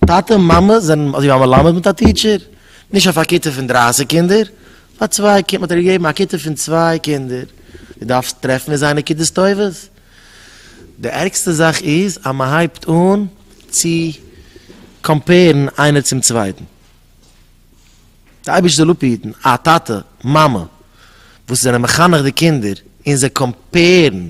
טאטע און מאמע זענען אזוי ווי א מלמד מיט א טיטשער, נישט אויף א כיתה פון דרייסיג קינדער, פאר צוויי קינדער האט ער געגעבן א כיתה פון צוויי קינדער, דו דארפסט טרעפן אין זיי נקודות טובות, די ערגסטע זאך איז אז מען הייבט אן צו קאמפעירן איינער צום צווייטן, די אייבערשטער זאל אפהיטן א טאטע מאמע וואס זענען מחנך די קינדער און זיי קאמפעירן.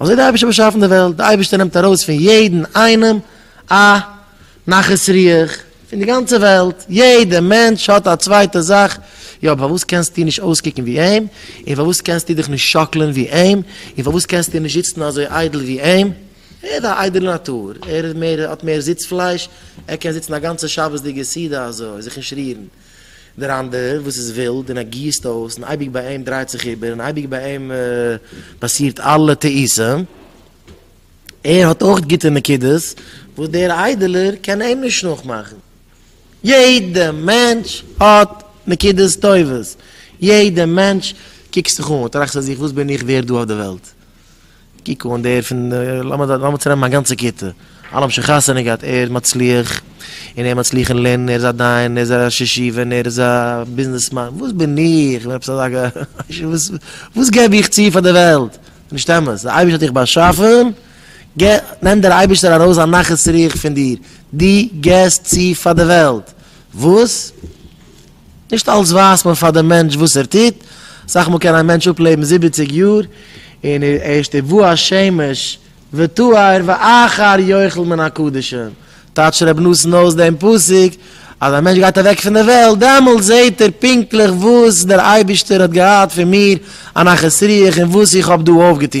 אזוי האט די אייבערשטער באשאפן די וועלט, די אייבערשטער נעמט ארויס פון יעדן איינעם א נחת רוח, פון די גאנצע וועלט, יעדע מענטש האט א צווייטע זאך, יא פארוואס קענסטו נישט אויסקוקן ווי אים, און פארוואס קענסטו דיך נישט שאקלען ווי אים, און פארוואס קענסטו נישט זיצן אזוי איידל ווי אים, ער איז א איידעלע נאטור, ער איז מער, האט מער זיץ פלייש, ער קען זיצן א גאנצע שבת'דיגע סעודה אזוי, זיך נישט רירן. דער אנדערער וואס איז ווילד און ער גיסט אויס און אייביג ביי אים דרייט זיך איבער און אייביג ביי אים פאסירט אלע טעותים, ער האט אויך גוטע נקודות וואס דער איידעלער קען אים נישט נאכמאכן. יעדע מענטש האט נקודות טובות, יעדע מענטש קוקסט זיך אן, טראכסט פאר זיך וואס בין איך ווערד דא אויף די וועלט? קוק אן דער פון לאמיר צונעמען מיין גאנצע כיתה, אלע האבן שוין חתונה געהאט, ער איז מצליח, און ער מצליח אין לערנען, ער איז א דיין, ער איז א ראש ישיבה, און ער איז א ביזנעסמאן, וואס בין איך, כ'בין עפעס אזא וואס געב איך צו פאר דער וועלט, ס'איז נישט אמת, דער אייבערשטער האט דיך באשאפען, נעמט דער אייבערשטער ארויס א נחת רוח פון דיר, דו געסט צו פאר דער וועלט, וואס? נישט אלץ ווייסט מען פאר דעם מענטש וואס ער טוט, אסאך מאל קען א מענטש אפלעבן זיבעציג יאר, און ער ערשט תבוא השמש ותואר ואחר יאכל מן הקדשים, טייטשט רבי נתן אויס דעם פסוק, אז א מענטש גייט אוועק פון דער וועלט, דעמאלט זעט ער פונקטליך וואס דער אייבערשטער האט געהאט פון מיר א נחת רוח און וואס איך האב דא אויפגעטון.